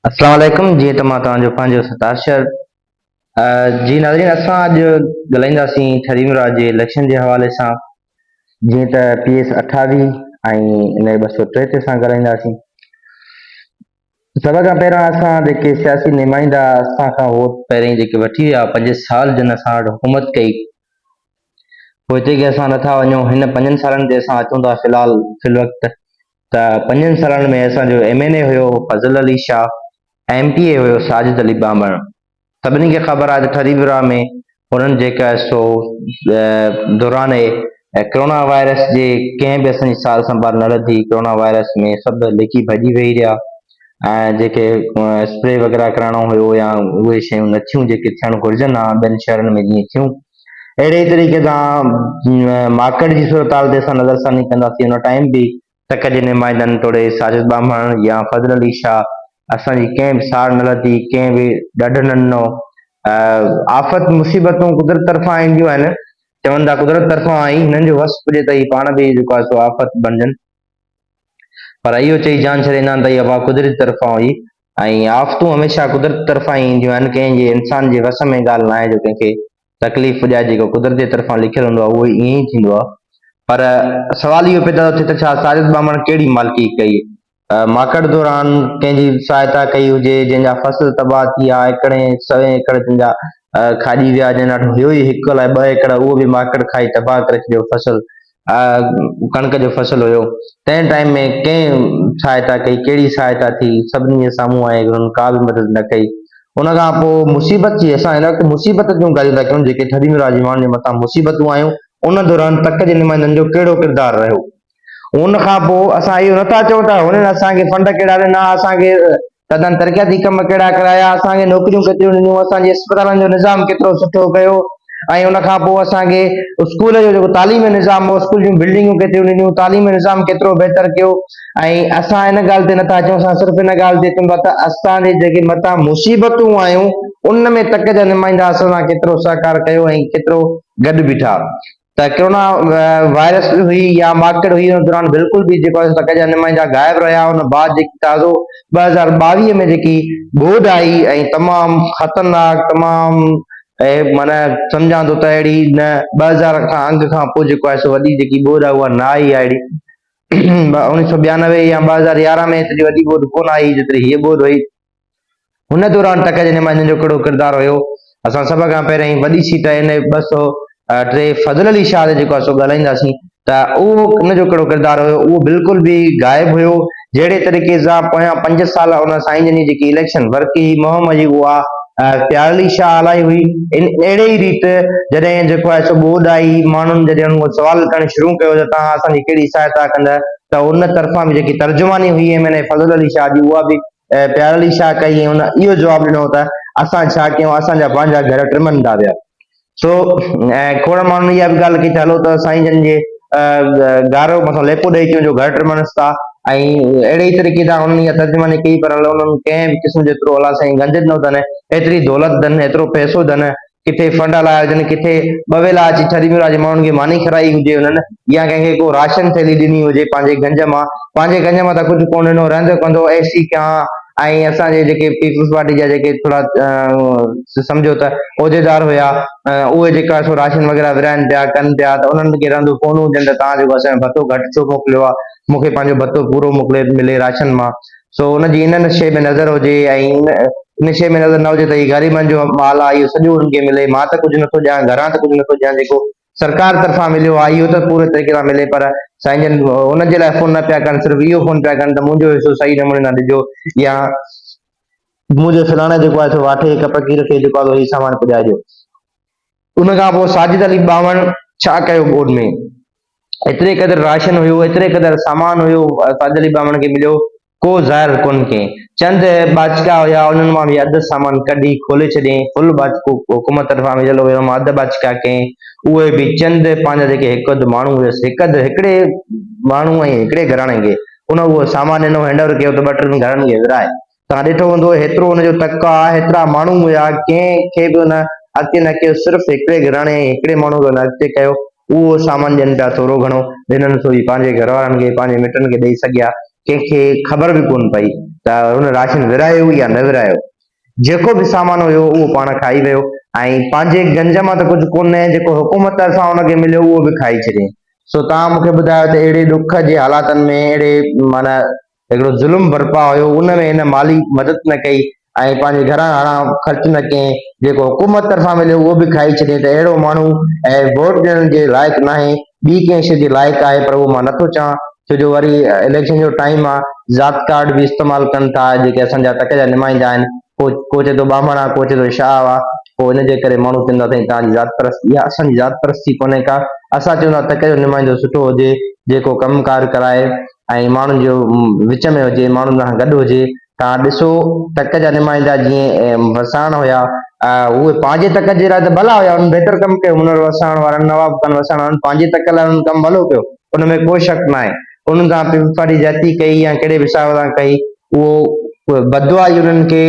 اسلام عليڪم جيئن ته مان توهان جو پنهنجو ستار شهر جي ناظرين اسان اڄ ڳالهائينداسين ٺري مراج جي اليڪشن جي حوالي سان جيئن ته پي ايس اٺاويهه ۽ ان ٻه سو ٽي تي اسان ڳالهائينداسين سڀ کان پهريان اسان جيڪي سياسي نمائندا اسان کان ووٽ پهرين جيڪي وٺي ويا پنج سال جن اسان وٽ حڪومت ڪئي پوء هتي کي اسان نٿا وڃون هن پنجن سالن تي اسان اچون ٿا في الحال في الوقت ته پنجن سالن ۾ اسان جو ايم اين اي هيو Fazal Ali Shah ۽ M P A هيو ساجد علي ٻانڀڻ. سڀني کي خبر آهي ته ٺري ورهاء ۾ انهن جيڪا سو دوران اهي ڪرونا وائرس جي ڪنهن به اسان جي سار سنڀال نه لڌي، ڪرونا وائرس ۾ سڀ لڪي ڀڄي ويهي رهيا ۽ جيڪي اسپري وغيره ڪرائڻو هيو يا اهي شيون نه ٿيون جيڪي ٿيڻ گهرجن ها ٻين شهرن ۾ جيئن ٿيون. اهڙي ئي طريقي سان مارڪيٽ جي صورتحال تي اسان نظرثاني ڪنداسين. ان ٽائيم به تڪ جي نمائندن توڙي ساجد ٻانڀڻ يا فضل علي شاهه اسان جي ڪنهن به ساڙ نه لڌي، ڪنهن به ڏڍ نه ڏنو. آفت مصيبتون قدرت طرفان اينديون آهن، چون ٿا قدرت طرفان آئي، هنن جو وس پڄي ته هي پاڻ به جيڪو آهي سو آفت بڻجن. پر اهو چئي جان ڇڏيندا آهن ته اها باهه قدرت طرفان هئي ۽ آفتون هميشه قدرت طرفان ئي اينديون آهن، ڪنهن جي انسان جي وس ۾ ڳالهه ناهي جو ڪنهن کي تڪليف پڄائي، جيڪو قدرت جي طرفان لکيل هوندو آهي اهو ائين ئي ٿيندو آهي. پر سوال اهو پيدا ٿو ٿئي ته ڇا ساجد ٻانڀڻ ڪهڙي مالڪي ڪئي؟ ماڪڙ دوران ڪنهن جي سهائتا ڪئي هجي جنهن جا فصل تباهه ٿي ويا، ايڪڙين سوين ايڪڙ تن جا کاڄي ويا، جن وٽ هيو ئي هڪ الاء ٻه ايڪڙ اهو به ماڪڙ کائي تباهه ڪري ڇڏيو، فصل آء ڪڻڪ جو فصل هيو تنهن ٽائيم ۾ ڪنهن سهائتا ڪئي ڪهڙي سهائتا ٿي سڀني جي سامهون آهي انهن ڪا به مدد نه ڪئي ان کان پوء مصيبت جي اسان هن وقت مصيبت جون ڳالهيون ٿا ڪيون جيڪي ٿڌي ۾ راجمان جي مٿان مصيبتون آيون ان دوران تڪ جي نمائندن جو ڪهڙو ڪردار رهيو ان کان پوء اسان اهو نٿا چئون ته هنن اسان کي فنڊ ڪهڙا ڏنا اسان کي سندن ترقياتي ڪم ڪهڙا ڪرايا، اسان کي نوڪريون ڪيتريون ڏنيون، اسان جي اسپتالن جو نظام ڪيترو سٺو ڪيو ۽ ان کان پوء اسان کي اسڪول جو جيڪو تعليمي نظام هو، اسڪول جون بلڊنگون ڪيتريون ڏنيون، تعليمي نظام ڪيترو بهتر ڪيو ۽ اسان ان ڳالهه تي نٿا اچون، اسان صرف ان ڳالهه تي اچون ٿا ته اسان جي جيڪي مٿان مصيبتون آيون، ان ۾ تڪ جا نمائندا اسان سان ڪيترو سهڪار ڪيو ۽ ڪيترو گڏ بيٺا. ته ڪرونا وائرس هئي يا ماڪڙ هئي ان دوران بلڪل به جيڪو آهي سو ٽڪ جا نمائندا غائب رهيا ان بعد جيڪي تازو ٻه هزار ٻاويهه ۾ جيڪي ٻوڏ آئي ۽ تمام خطرناڪ تمام معنيٰ سمجهان ٿو ته اهڙي نه ٻه هزار کان انگ کان پوء جيڪو آهي سو وڏي جيڪي ٻوڏ آهي اها نه آئي اهڙي اڻيهه سو ٻيانوي يا ٻه هزار يارهن ۾ ايتري وڏي ٻوڏ ڪونه آئي جيتري هيء ٻوڏ هئي هن دوران ٽڪ جني مائنن جو ڪهڙو ڪردار هيو، اسان سڀ کان پهرين وڏي سيٽ اين اي ٻه سؤ ٽي فضل علي شاهه تي جيڪو اسو ڳالهائينداسين ته اهو ان جو ڪهڙو ڪردار هيو اهو بلڪل به غائب هيو جهڙي طريقي سان پويان پنج سال ان سائين جن جي جيڪي اليڪشن ورڪ هي مهم هي اها پيار علي شاهه هلائي هئي ان اهڙي ئي ريت جڏهن جيڪو آهي سو ٻوڏ آئي ماڻهن جڏهن ان سوال ڪرڻ شروع ڪيو ته توهان اسان جي ڪهڙي سهائتا ڪندا ته ان طرفان به جيڪي ترجماني هئي M N A Fazal Ali Shah جي اها به ۽ پيار علي شاهه ڪئي ۽ هن اهو جواب ڏنو ته اسان ڇا ڪيون اسان جا پنهنجا گهر ٽمن ٿا پيا سو ۽ کوڙ ماڻهن اها به ڳالهه ڪئي ته هلو ته سائين جن جي گارو مٿان ليپو ڏئي ڪيون جو گهر ٽمنس ٿا ۽ اهڙي طريقي سان انهن اها ترجماني ڪئي پر انهن ڪنهن به قسم جو ايترو الله سائين گنج ڏنو اٿن ايتري دولت اٿن ايترو پئسو اٿن ڪٿي فنڊ هلايا هجن، ڪٿي ٻه ويلا اچي ڇڏي ميرواهه جي ماڻهن کي ماني کارائي هجي هنن يا ڪنهن کي ڪو راشن ٿيلهي ڏني هجي پنهنجي گنج مان، پنهنجي گنج مان ته ڪجهه ڪونه ڏنو، رهندو ڪندو اي سي کان ۽ اسان جي جيڪي پيپلز پارٽي جا جيڪي ٿورا سمجهو ته عهديدار هيا اهي جيڪا سو راشن وغيره ورهائن پيا ڪن پيا ته انهن کي رهندو ڪونه هجن ته توهان جيڪو اسان جو ڀتو گهٽ ڇو موڪليو آهي، مون کي پنهنجو ڀتو پورو موڪلي ملي راشن مان سو ان جي ان نشي ۾ نظر هجي ۽ ان نشي ۾ نظر نه هجي ته هي غريبن جو مال آهي اهو سڄو انهن کي ملي مان ته ڪجهه نٿو ڏيان گهران ته ڪجهه نٿو ڏيان جيڪو سرڪار طرفان مليو آهي اهو ته پوري طريقي سان ملي پر سائين جن ان جي لاء فون نه پيا ڪن صرف اهو فون پيا ڪن ته منهنجو حصو صحيح نموني سان ڏجو يا منهنجو فلاڻي جيڪو آهي سو واٺي ڪپڪي رکي جيڪو آهي سو هي سامان پڄائجو ان کان پوء ساجد علي ٻانهن ڇا ڪيو ٻوڏ ۾ ايتري قدر راشن هيو، ايتري قدر سامان هيو، ساجد علي ٻانهن کي مليو ڪو زهر ڪونه ڪئين. چند ٻاچڪا هيا، انهن مان به اڌ سامان ڪڍي کولي ڇڏيائين، ڦل ٻاچڪو حڪومت طرفان وجهيل هيو، اما اڌ ٻاچڪا ڪئين، اهي به چند پنهنجا جيڪي هڪ اڌ ماڻهو هيس، هڪ اڌ هڪڙي ماڻهو ۽ هڪڙي گهراڻي کي ان اهو سامان ڏنو، هينڊاور ڪيو ته ٻه ٽن گهرن کي ورهائي توهان ڏٺو هوندو هيترو ان جو تڪ آ، هيترا ماڻهو هيا، ڪنهن کي به ان اڳتي نه ڪيو، صرف هڪڙي گهراڻي ۽ هڪڙي ماڻهو کي ان اڳتي ڪيو، اهو سامان ڏين پيا ٿورو گهڻو، ڏنن سو ئي پنهنجي گهروارن کي، پنهنجي مٽن کي ڏئي سگهيا، ڪنهن کي خبر به ڪونه پئي ته هن راشن ورهايو يا نه ورهايو، جيڪو به سامان هيو اهو پاڻ کائي ويو ۽ پنهنجي گنج مان ته ڪجهه ڪونه جيڪو حڪومت طرفان ان کي مليو اهو به کائي ڇڏيائين. سو توهان مون کي ٻڌايو ته اهڙي ڏک جي حالاتن ۾ اهڙي معنيٰ هڪڙو ظلم برپا هيو ان ۾ هن مالي مدد نه ڪئي ۽ پنهنجي گهران هاڻان خرچ نه ڪئين جيڪو حڪومت طرفان مليو اهو به کائي ڇڏيئين ته اهڙو ماڻهو ۽ ووٽ ڏيڻ جي لائق ناهي ٻي ڪنهن شي جي لائق آهي پر اهو مان نٿو چاهان ڇو جو وري اليڪشن جو ٽائيم آهي ذات ڪارڊ به استعمال ڪن ٿا جيڪي اسان جا تڪ جا نمائندا آهن ڪو ڪو چئي ٿو ٻانڀڻ آهي ڪو چئي ٿو شاهه آهي پوء ان جي ڪري ماڻهو چوندا سائين تنهنجي ذات پرستي اها اسان جي ذات پرستي ڪونهي ڪا اسان چوندا تڪ جو نمائندو سٺو هجي جيڪو ڪم ڪار ڪرائي ۽ ماڻهن جو وچ ۾ هجي، ماڻهن سان گڏ هجي. توهان ڏسو تڪ جا نمائندا جيئن وساڻ هيا، اهي پنهنجي تڪ جي لاء ته ڀلا هيا، انهن بهتر ڪم ڪيو، هنر وساڻ وارن، نواب خان وساڻ وارن پنهنجي تڪ لاء انهن ڪم ڀلو ڪيو، ان ۾ ڪو شڪ ناهي، انهن سان پيپلزپارٽي زيادتي ڪئي يا ڪهڙي به حساب سان ڪئي، اهو بددعا ئي انهن کي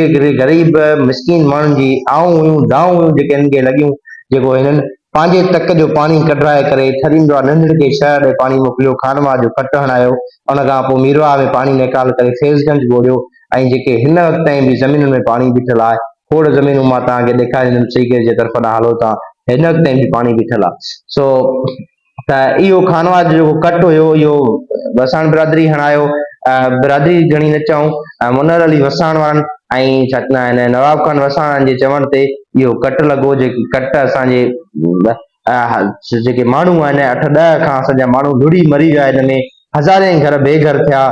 غريب مسڪين ماڻهن جي آئون هيون دانهون هيون جيڪي هنن کي لڳيون جيڪو هنن پنهنجي تڪ جو پاڻي ڪڍرائي ڪري ٿريندو آ ننڍڙ کي شهر ڏي پاڻي موڪليو خانواهه جو کٽ هڻايو ان کان پوء ميرواهه ۾ پاڻي نيڪال ڪري فيض گنج ٻوڙيو ۽ جيڪي هن وقت تائين به زمينن ۾ پاڻي بيٺل آ کوڙ زمينون مان توهان کي ڏيکاريندم سيڪريٽ جي طرف ڏانهن هلو ته هن وقت تائين به پاڻي بيٺل آ سو ته اهو خانواهه جو ڪٽ هيو اهو وساڻ برادري هڻايو برادري گهڻي نه چئون منر علي وساڻ وارن ۽ ڇا چوندا آهن نواب خان وساڻ جي چوڻ تي اهو ڪٽ لڳو جيڪي ڪٽ اسان جي جيڪي ماڻهو آهن اٺ ڏهه کان اسان جا ماڻهو لڙي مري ويا هن ۾ هزارين گهر بي گهر ٿيا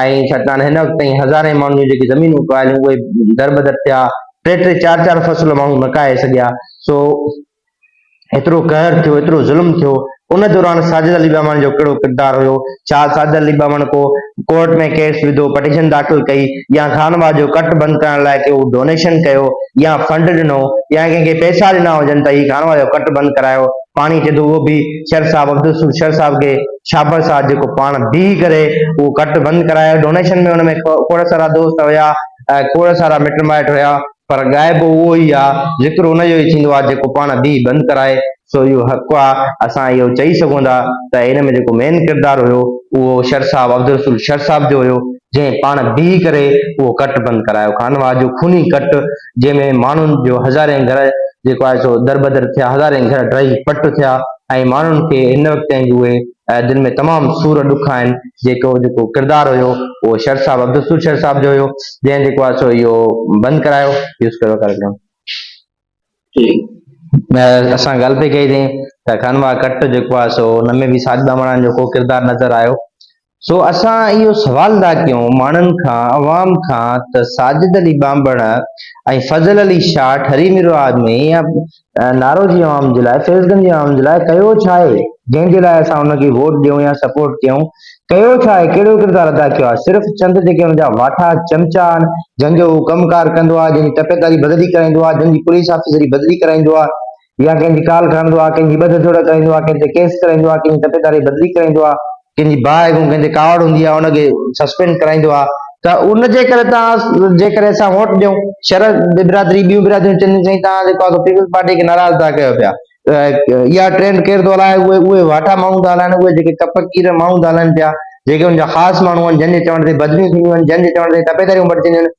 ۽ ڇا چوندا آهن هن وقت تائين هزارين ماڻهن جون جيڪي زمينون اگايل اهي در بدر ٿيا ٽي ٽي چار چار فصل ماڻهو نکائي سگهيا سو ايترو قهر ٿيو، ايترو ظلم ٿيو، ان دوران ساجد علي ٻاواڻ جو ڪهڙو ڪردار هيو؟ ڇا ساجد علي ٻاواڻ ڪو ڪورٽ ۾ ڪيس وڌو، پٽيشن داخل ڪئي يا خانواهه جو ڪٽ بند ڪرڻ لاء ڪو ڊونيشن ڪيو يا فنڊ ڏنو يا ڪنهن کي پئسا ڏنا هجن ته هي خانواهه جو ڪٽ بند ڪرايو، پاڻي ڪيو ته اهو به شر صاحب عبدالرسول شر صاحب کي شابر صاحب جيڪو پاڻ بيهي ڪري اهو ڪٽ بند ڪرايو، ڊونيشن ۾ ان ۾ کوڙ سارا دوست هيا، کوڙ سارا مٽ مائٽ هيا. پر غائب اهو ئي آ، ذڪر ان جو ئي ٿيندو آ جيڪو پاڻ به بند ڪرائي، سو اهو حق آ، اسان اهو چئي سگهون ٿا ته ان ۾ جيڪو مين ڪردار هيو اهو شر صاحب عبدالرسول شر صاحب جو هيو، جنهن پاڻ به ڪري اهو ڪٽ بند ڪرايو، خانواهه جو خوني ڪٽ جنهن ۾ ماڻهن جو هزارين گهر جيڪو آهي سو دربدر ٿيا، هزارين گهر ڊهي پٽ ٿيا ۽ ماڻهن کي هن وقت تائين به اهي جن ۾ تمام سور ڏک آهن جيڪو جيڪو ڪردار هيو اهو شر صاحب عبدالسور شر صاحب جو هيو جنهن جيڪو آهي سو اهو بند ڪرايو يوز ڪريو ڪاريڪرم اسان ڳالهه پئي ڪئي تين ته خانوا ڪٽ جيڪو آهي سو ان ۾ به ساج ٻامڻان جو ڪو ڪردار نظر آيو سو اسان اهو سوال ادا ڪيون ماڻهن کان عوام کان ته ساجد علي ٻانڀڻ ۽ فضل علي شاهه ٺري ميرو آدمي ۽ نارو جي عوام جي لاء فيض گنج جي عوام جي لاء ڪيو ڇا آهي جنهن جي لاء اسان ان کي ووٽ ڏيون يا سپورٽ ڪيون ڪيو ڇا آهي ڪهڙو ڪردار ادا ڪيو آهي صرف چند جيڪي ان جا واٺا چمچا آهن جن جو هو ڪم ڪار ڪندو آهي جن جي تپيداري بدلي ڪرائيندو آهي جن جي پوليس آفيسري بدلي ڪرائيندو آهي يا ڪنهن جي ڪال کڻندو آهي ڪنهن جي ٻڌ جوڙ ڪرائيندو آهي ڪنهن تي ڪيس ڪرائيندو آهي ڪنهن جي تپيداري بدلي ڪرائيندو آهي ڪنهن جي باهه ڪنهن جي ڪاوڙ هوندي آهي ان کي سسپينڊ ڪرائيندو آهي ته ان جي ڪري تان جي ڪري اسان ووٽ ڏيون شهر برادري ٻيون برادريون چونديون سائين تان جيڪو آهي پيپلز پارٽي کي ناراض تان ڪيو پيا اها ٽرينڊ ڪير ٿو هلائي اهي اهي واٽا ماڻهو ٿا هلائن اهي جيڪي ڪپ ڪير ماڻهو ٿا هلائن پيا جيڪي ان جا خاص ماڻهو آهن جن جي چوڻ تي بدليون ٿينديون آهن جن جي چوڻ تي تپيداريون بڻجنديون آهن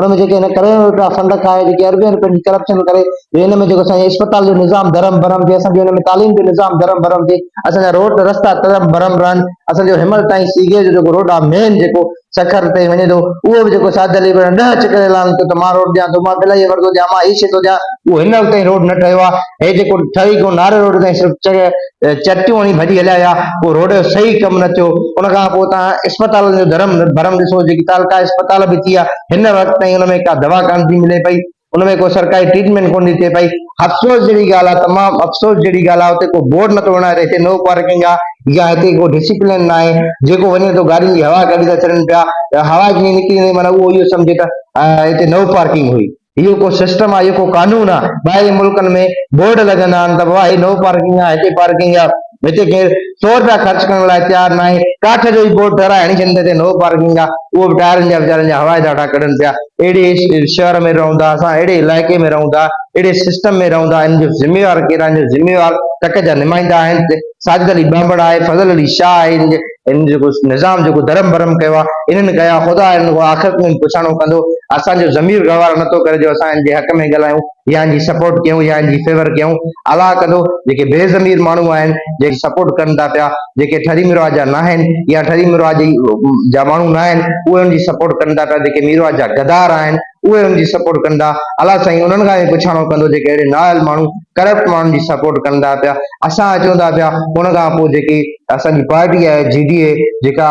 ان ۾ جيڪي هن ڪروڙين روپيا فنڊ کائي جيڪي اربين روپين جي ڪرپشن ڪري جو ان ۾ جيڪو اسان جي اسپتال جو نظام درهم برهم ٿئي اسان جي ان ۾ تعليم جو نظام درهم برهم ٿئي اسان جا روڊ رستا درهم برهم رهن اسان جو هيمل تائين سيگي جو جيڪو روڊ آهي مين جيڪو سکر تائين وڃي ٿو اهو به جيڪو ساجد علي ڏهه اچ ڪري اعلان ڪيو ته مان روڊ ڏيان ٿو مان بلائي ورندو ڏيان مان هي شي ٿو ڏيان اهو هن وقت تائين روڊ نه ٺهيو آهي هي جيڪو ٺهي ڪو ناري روڊ تائين صرف چريا چرتيون هڻي ڀڄي هليا ويا، اهو روڊ جو صحيح ڪم نه ٿيو، ان کان پوء توهان اسپتالن جو ڌرم ڀرم ڏسو، جيڪي تعلقائي اسپتال به ٿي ويا، هن وقت تائين ان ۾ ڪا دوا ڪانه ٿي ملي پئي، ان ۾ ڪو سرڪاري ٽريٽمينٽ ڪونه ٿي ٿئي پئي، افسوس جهڙي ڳالهه آهي، تمام افسوس جهڙي ڳالهه آهي، اتي ڪو بورڊ نه ٿو هڻائي ته هتي نو پارڪنگ آهي يا هتي ڪو ڊسپلين نه آهي، جيڪو وڃي ٿو گاڏين جي هوا ڪڍي ٿا ڇڏن پيا، هوا جيئن نڪري وڃي معنيٰ اهو اهو سمجهي ته هتي نو پارڪنگ هئي. اهو ڪو سسٽم آ اهو ڪو قانون آ ٻاهرين ملڪن ۾ بورڊ لڳندا آهن ته بابا هي نو پارڪنگ آ هتي پارڪنگ آ هتي ڪير سو روپيا خرچ ڪرڻ لاء تيار ناهي ڪاٺ جو ئي بورڊ ٺهرائي هڻي ڇڏين ته هتي نو پارڪنگ آ اهو به ٽائرن جا ويچارن جا هوائي ڌاٽا ڪڍن پيا اهڙي شهر ۾ رهون ٿا اسان اهڙي علائقي ۾ رهون ٿا اهڙي سسٽم ۾ رهون ٿا ان جو ذميوار ڪير آهن جو ذميوار تڪ جا نمائندا آهن ساجد علي ٻانڀڻ آهي فضل علي شاهه آهي ان جيڪو نظام جيڪو درم برم ڪيو آ انهن ڪيو آ خدا انهن کان آخرت ۾ پڇاڻو ڪندو اسان جو ضمير گوارو نٿو ڪري جو اسان ان جي حق ۾ ڳالهايون يا ان جي سپورٽ ڪيون يا ان جي فيور ڪيون الله ڪندو جيڪي بي ضمير ماڻهو آهن جيڪي سپورٽ ڪن ٿا پيا جيڪي ٺري ميرواهه جا ناهن يا ٺري ميرواهه جي جا ماڻهو ناهن اهي ان جي سپورٽ ڪن ٿا پيا جيڪي ميرواهه جا غدار آهن اهي انهن جي سپورٽ ڪن ٿا الا سائين انهن کان به پڇاڻو ڪندو جيڪي اهڙي نااهل ماڻهو ڪرپٽ ماڻهن جي سپورٽ ڪن ٿا پيا اسان اچون ٿا پيا ان کان پوء جيڪي اسان جي پارٽي آهي جي ڊي اي جيڪا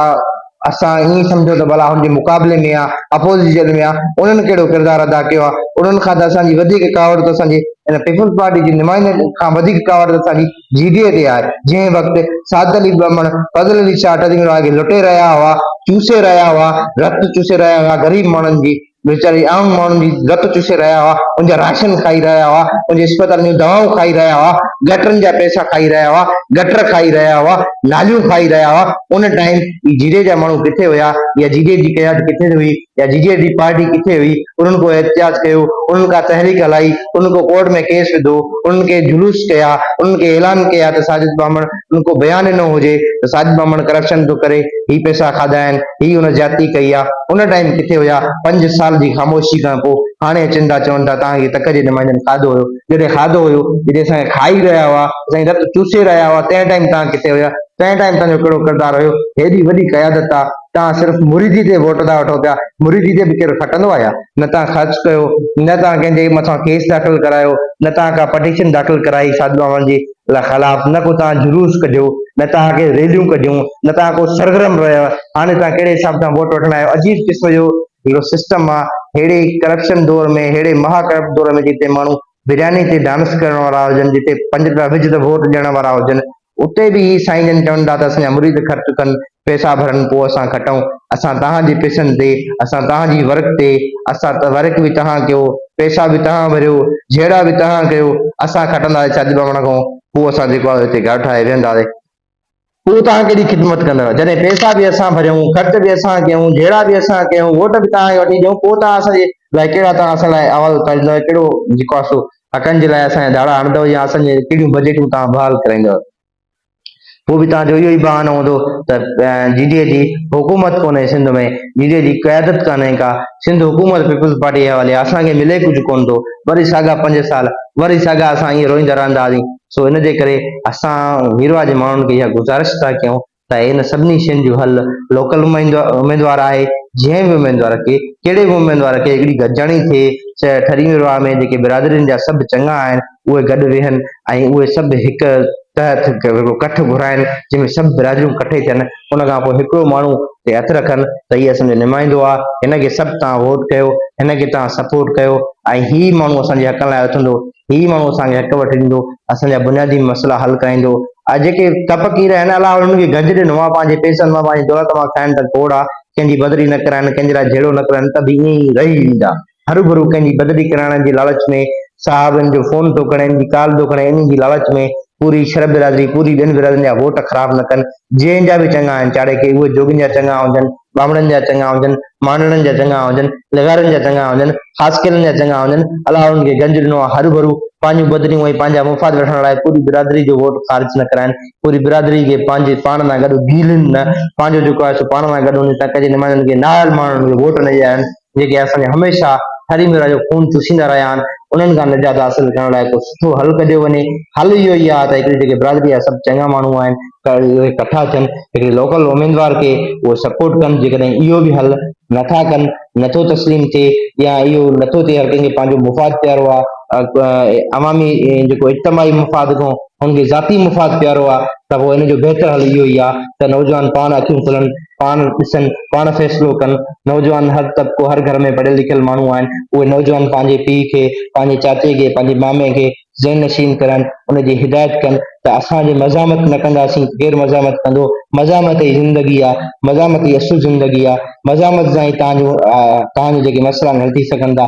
اسان ائين سمجهون ته ڀلا هن جي مقابلي ۾ آ اپوزيشن ۾ آ انهن ڪهڙو ڪردار ادا ڪيو آ انهن کان ته اسان جي وڌيڪ ڪاوڙ ته اسان جي ان پيپلز پارٽي جي نمائندن کان وڌيڪ ڪاوڙ ته اسان جي جيڊيء تي آهي، جنهن وقت سعد علي ٻهمڻ، فضل علي ڇاٽ جي ملهاڻ کي لٽي رهيا هئا، چوسي رهيا هئا، رت چوسي رهيا هئا، غريب ماڻهن جي، ويچاري عام ماڻهن جي رت چوسي رهيا هئا، ان جا راشن کائي رهيا هئا، ان جي اسپتالن جون دوائون کائي رهيا هئا، گٽرن جا پئسا کائي رهيا هئا، گٽر کائي رهيا هئا، ناليون کائي رهيا هئا، ان ٽائيم هي جيڊيء جا ماڻهو ڪٿي هيا يا جيڊيء جي قيادت ڪٿي هئي؟ يا جي جي ڊي پارٽي ڪٿي هئي، انهن ڪو احتجاج ڪيو، انهن ڪا تحريڪ هلائي، انهن ڪو ڪورٽ ۾ ڪيس وڌو، انهن ڪي جلوس ڪيا، انهن ڪي اعلان ڪيا ته ساجد ٻامڻ انهن ڪو بيان ڏنو هجي ته ساجد ٻامڻ ڪرپشن ٿو ڪري، هي پئسا کاڌا آهن، هي هن زيادتي ڪئي آ، ان ٽائيم ڪٿي هيا، پنج سال جي خاموشي کان پو هاڻي اچن ٿا چون ٿا توهان کي تڪ جي نمائندن کاڌو هيو، جڏهن کاڌو هيو، جڏهن اسان کي کائي رهيا هئا، اسان جي رت چوسي رهيا هئا تنهن ٽائيم توهان ڪٿي هيا، تنهن ٽائيم توهان جو ڪهڙو ڪردار هيو، هيڏي وڏي قيادت آ. توهان صرف مريدي تي ووٽ ٿا وٺو پيا، مريدي تي به ڪير کٽندو آهي ڇا؟ نه توهان خرچ ڪيو، نه توهان ڪنهن جي مٿان ڪيس داخل ڪرايو، نه توهان ڪا پٽيشن داخل ڪرائي سعد بابا جي خلاف، نه ڪو توهان جلوس ڪڍيو، نه توهان ڪي ريليون ڪڍيون، نه توهان ڪو سرگرم رهيو، هاڻي توهان ڪهڙي حساب سان ووٽ وٺڻ آيو، عجيب قسم جو هڪڙو سسٽم آ، ههڙي ڪرپشن دور ۾ ههڙي مها ڪرپٽ دور ۾ جتي ماڻهو برياني تي ڊانس ڪرڻ وارا هجن، جتي پنج رپيا وجهه ته ووٽ ڏيڻ وارا هجن، اتي به هي سائين جن چون ٿا ته اسان جا مريد خرچ ڪن، پئسا ڀرن پوء اسان کٽون، اسان توهان جي پئسن تي، اسان توهان جي ورڪ تي، اسان ورڪ به توهان ڪيو، پئسا به توهان ڀريو، جهيڙا به توهان ڪيو، اسان کٽنداسين ڇا ٻاوهڻ کان پوء اسان جيڪو آهي اتي گهر ٺاهي ويهنداسين. هو توهان ڪهڙي خدمت ڪندڙ جڏهن پئسا به اسان ڀريون خرچ به اسان ڪيون جهيڙا به اسان ڪيون ووٽ به توهان کي وٺي ڏيون پوء توهان اسان جي لاء ڪهڙا توهان اسان لاء احوال اتاريندو ۽ ڪهڙو جيڪو آهي سو حقن جي لاء اسان جا ڌاڙا هڻندو يا اسان جي ڪهڙيون بجيٽون توهان بحال ڪرائيندو پوء به توهان جو اهو ئي بهانو هوندو ته جي ڊي اي جي حڪومت ڪونهي سنڌ ۾ جي ڊي اي جي قيادت ڪانهي ڪا سنڌ حڪومت پيپلز پارٽي جي حوالي اسان کي ملي ڪجهه ڪونه ٿو وري ساڳا پنج سال وري ساڳا اسان ائين روئيندا رهندا هئاسين سو ان جي ڪري اسان هيرواء جي ماڻهن کي اها گذارش ٿا ڪيون ته ان سڀني شين جو حل لوڪل اميدوار آهي جنهن به اميدوار کي ڪهڙي به اميدوار کي هڪڙي گڏجاڻي ٿئي ٺري هيرواء ۾ جيڪي برادرين جا سڀ چڱا آهن اهي گڏ ويهن ۽ اهي سڀ هڪ تحت ڪٺ گهرائن جنهن ۾ سڀ برادريون ڪٺي ٿين ان کان پوء هڪڙو ماڻهو تي هٿ رکن ته هي اسان جو نمائندو آ، هن کي سڀ توهان ووٽ ڪيو، هن کي توهان سپورٽ ڪيو ۽ هي ئي ماڻهو اسان جي حقن لاء اٿندو، هي ئي ماڻهو اسان کي حق وٺي ڏيندو، اسان جا بنيادي مسئلا حل ڪرائيندو ۽ جيڪي ڪپ ڪير آهن الله انهن کي گنج ڏنو آ، پنهنجي پئسن مان پنهنجي دولت مان کائن ته کوڙ آ، ڪنهن جي بدري نه ڪرائن، ڪنهن جي لاء جهيڙو نه ڪرن ته به ائين ئي رهي ويندا. هروڀرو ڪنهن جي بدلي ڪرائڻ جي لاالچ ۾ صحابين جو فون ٿو کڻي ان جي ڪال ٿو کڻي انهي جي لاالچ ۾ پوري شھر برادري پوري ٻين برادرين جا ووٽ خراب نه ڪن جنهن جا به چڱا آهن چاڙهي کي اهي جوڳين جا چڱا هجن ٻامڙن جا چڱا هجن مانڊڻن جا چڱا هجن لغارين جا چڱا هجن خاصخيلن جا چڱا هجن الله انهن کي گنج ڏنو آهي هروڀرو پنهنجون بدليون ۽ پنهنجا مفاد وٺڻ لاء پوري برادري جو ووٽ خارج نه ڪرائن پوري برادري کي پنهنجي پاڻ سان گڏ گيلين نه پنهنجو جيڪو آهي سو پاڻ سان گڏ وڃي تنهن ڪجي نمائندن کي نااهل ماڻهن کي ووٽ نه ڏيارين جيڪي اسان کي هميشه ٺري ميرا جو خون چوسيندا رهيا آهن انهن کان نجات حاصل ڪرڻ لاء ڪو سٺو حل ڪڍيو وڃي حل اهو ئي آهي ته هڪڙي جيڪي برادري جا سڀ چڱا ماڻهو آهن اهي ڪٺا ٿين هڪڙي لوڪل اميدوار کي اهو سپورٽ ڪن جيڪڏهن اهو به حل نٿا ڪن نٿو تسليم ٿئي يا اهو نٿو ٿئي هر ڪنهن کي پنهنجو مفاد پيارو آهي عوامي جيڪو اجتماعي مفاد کان هن کي ذاتي مفاد پيارو آهي ته پوء ان جو بهتر حل اهو ئي آهي ته نوجوان پاڻ اکيون کولن پاڻ ڏسن، پاڻ فيصلو ڪن. نوجوان هر طبقو، هر گهر ۾ پڙهيل لکيل ماڻهو آهن. اهي نوجوان پنهنجي پيء کي، پنهنجي چاچي کي، پنهنجي مامي کي ذهن نشين ڪرن، ان جي هدايت ڪن ته اسان جي مزاحمت نه ڪنداسين ته ڪير مزاحمت ڪندو؟ مزاحمت ئي زندگي آهي. مزاحمت ئي اصل زندگي آهي. مزاحمت سان ئي توهان جون توهان جا جيڪي مسئلا آهن حل ٿي سگهن ٿا.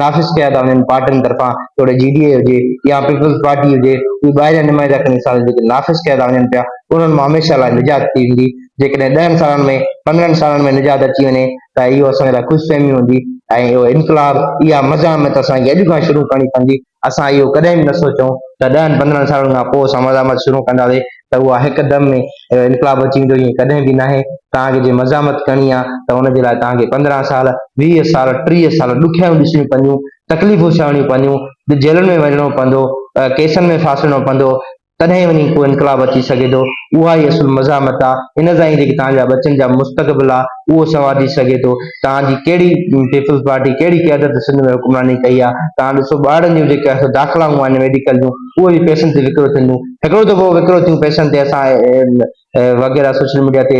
نافذ ڪيا ٿا وڃن پارٽين طرفان توڙي جي ڊي اي هجي يا پيپلز پارٽي هجي اهي ٻاهريان نمائندا کڻي ساڻس جيڪي نافذ ڪيا ٿا وڃن پيا انهن مان هميشه لاء نجات ٿي ويندي جيڪڏهن ڏهن سالن ۾ پندرهن سالن ۾ نجات اچي وڃي ته اهو اسان جي لاء خوش فهمي هوندي ۽ اهو انقلاب اها مزاحمت اسان کي اڄ کان شروع ڪرڻي پوندي اسان اهو ڪڏهن به نه سوچيون ته ڏهن پندرهن سالن کان پوء اسان مزاحمت شروع ڪنداسين ته اها هڪ دم ۾ انقلاب اچي ويندو ائين ڪڏهن به ناهي توهان کي جي مزاحمت ڪرڻي آهي ته ان جي لاء توهان کي پندرهن سال ويهه سال ٽيهه سال ڏکيائيون ڏسڻيون پونديون تڪليفون سهڻيون پونديون جيلن ۾ وڃڻو پوندو ڪيسن ۾ ڦاسڙڻو پوندو تڏهن ئي وڃي ڪو انقلاب اچي سگهي ٿو، اها ئي اصل مزاحمت آ، ان سان ئي جيڪي توهان جا ٻچن جا مستقبل آ، اهو سنوارجي سگهي ٿو، توهان جي ڪهڙي پيپلز پارٽي ڪهڙي قيادت سنڌ ۾ حڪمراني ڪئي آ، توهان ڏسو ٻارڙن جون جيڪي اهي داخلائون آهن ميڊيڪل جون، اهي به پئسن تي وڪرو ٿينديون، هڪڙو دفعو وڪرو ٿيون پئسن تي اسان وغيره سوشل ميڊيا تي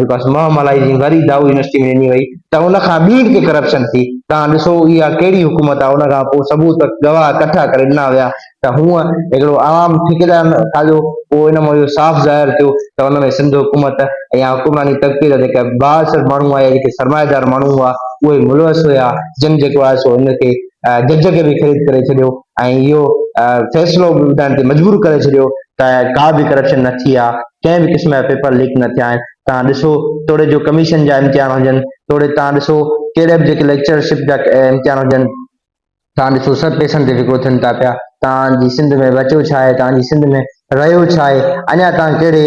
جيڪو آهي مهه ملائي جي وري دائو يونيورسٽي ۾ ڏني وئي ته ان کان ٻي ڪي ڪرپشن ٿي تان ڏسو اها ڪهڙي حڪومت آهي ان کان پوء ثبوت گواهه ڪٺا ڪري ڏنا ويا ته هونء هڪڙو عوام ٺيڪيدار کاڌو پوء ان مان اهو صاف ظاهر ٿيو ته ان ۾ سنڌ حڪومت يا حڪمراني طبقي جا جيڪا بااثر ماڻهو آيا جيڪي سرمائيدار ماڻهو هئا اهي ملوث هيا جن جيڪو آهي سو ان کي جج کي به خريد ڪري ڇڏيو ۽ اهو فيصلو به ٻڌائڻ تي مجبور ڪري ڇڏيو ته ڪا به ڪرپشن نه ٿي آهي، ڪنهن به قسم جا پيپر ليڪ نه ٿيا آهن، توهان ڏسو توڙي جو ڪميشن جا امتحان هجن، توڙي توهان ڏسو ڪهڙي به جيڪي ليڪچر شپ جا امتحان هجن، توهان ڏسو سڀ پئسن تي وڪرو ٿين ٿا پيا، توهان جي سنڌ ۾ بچيو ڇا آهي، توهان جي سنڌ ۾ رهيو ڇا آهي؟ اڃا توهان ڪهڙي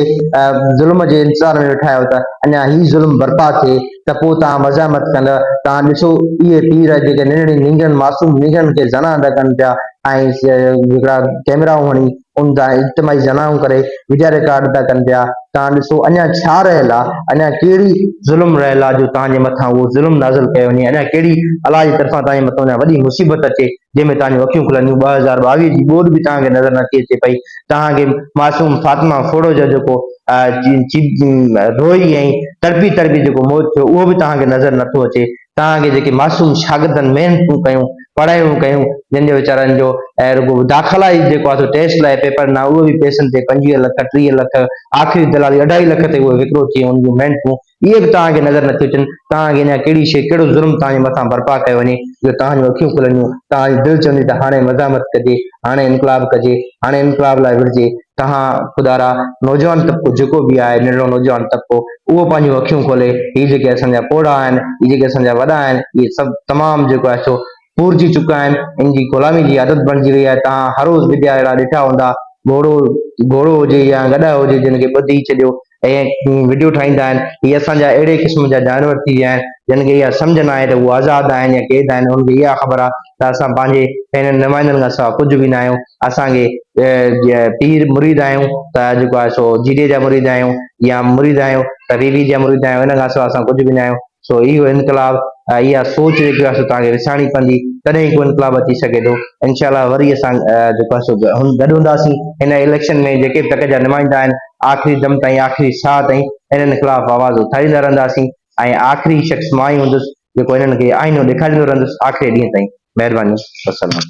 ظلم جي انتظار ۾ ويٺا آهيو ته اڃا هي ظلم برپا ٿئي ته پوء توهان مزاحمت ڪندء؟ توهان ڏسو اهي پير جيڪي ننڍڙين نينگرن، معصوم نينگرن کي زنا ادا ڪن پيا ۽ هڪڙا ڪئميرائون هڻي ان تان اجتماعي زنائون ڪري وڊيا رڪارڊ ادا ڪن پيا، توهان ڏسو اڃا ڇا رهيل آ؟ اڃا ڪهڙي ظلم رهيل آ جو توهان جي مٿان اهو ظلم نازل ڪيو وڃي؟ اڃا ڪهڙي الله جي طرفان توهان جي مٿان اڃا وڏي مصيبت اچي؟ جنهن ۾ توهان جون اکيون کلنديون، ٻه هزار ٻاويهه جي ٻوڏ به توهان کي نظر نٿي اچي پئي، توهان کي معصوم فاطمه ڦوڙو جو جيڪو روئي ۽ تڙپي تڙپي جيڪو موت ٿيو اهو به توهان کي نظر نٿو اچي، توهان کي جيڪي معصوم شاگردن محنتون ڪيون، پڙهايون ڪيون، جن جو ويچارن جو رڳو داخلا ئي جيڪو آهي سو ٽيسٽ لاء پيپر ڏنا اهو به پئسن تي پنجويهه لک، ٽيهه لک، آخري دلالي اڍائي لک تي اهو وڪرو ٿي ويو، ان جون محنتون اهي به توهان کي نظر نٿيون اچن، توهان کي اڃا ڪهڙي شيء، ڪهڙو ظلم توهان جي مٿان برپا ڪيو وڃي جو توهان جون اکيون کلنديون، توهان جي دل چوندي ته هاڻي مزاحمت ڪجي، هاڻي انقلاب ڪجي، هاڻي انقلاب لاء وڙهجي، توهان خدارا نوجوان طبقو جيڪو به آهي ننڍڙو نوجوان طبقو اهو پنهنجون اکيون کولي هي جيڪي اسان جا پوڙها آهن، هي جيڪي اسان جا وڏا آهن اهي سڀ تمام جيڪو آهي سو پورجي چڪا آهن، ان جي غلامي جي عادت بڻجي وئي آهي، توهان هر روز ويديا اهڙا ڏٺا هوندا، گهوڙو گهوڙو هجي يا گڏهه هجي جن کي ٻڌي ڇڏيو، ۽ وڊيو ٺاهيندا آهن هي اسان جا اهڙي قسم جا جانور ٿي ويا آهن جن کي اها سمجهه ناهي ته هو آزاد آهن يا قيد آهن انهن کي اها خبر آهي ته اسان پنهنجي پهرين نمائندن کان سوا ڪجهه به ناهيون اسان کي پير مريد آهيون ته جيڪو آهي سو جيجي جا مريد آهيون يا مريد آهيون ته بيبي جا مريد آهيون ان کان سوا اسان ڪجهه به ناهيون سو هي هو انقلاب ۽ اها سوچ جيڪي آهي سو توهان کي وسارڻي پوندي تڏهن ئي ڪو انقلاب اچي سگهي ٿو انشاء الله وري اسان جيڪو آهي سو گڏ هونداسين هن اليڪشن ۾ جيڪي به تڪ جا نمائندا آهن آخري دم تائين آخري ساهه تائين انهن خلاف آواز اٿاريندا رهنداسين ۽ آخري شخص مان ئي هوندس جيڪو انهن کي آئينو ڏيکاريندو رهندس آخري ڏينهن تائين مهرباني وسلام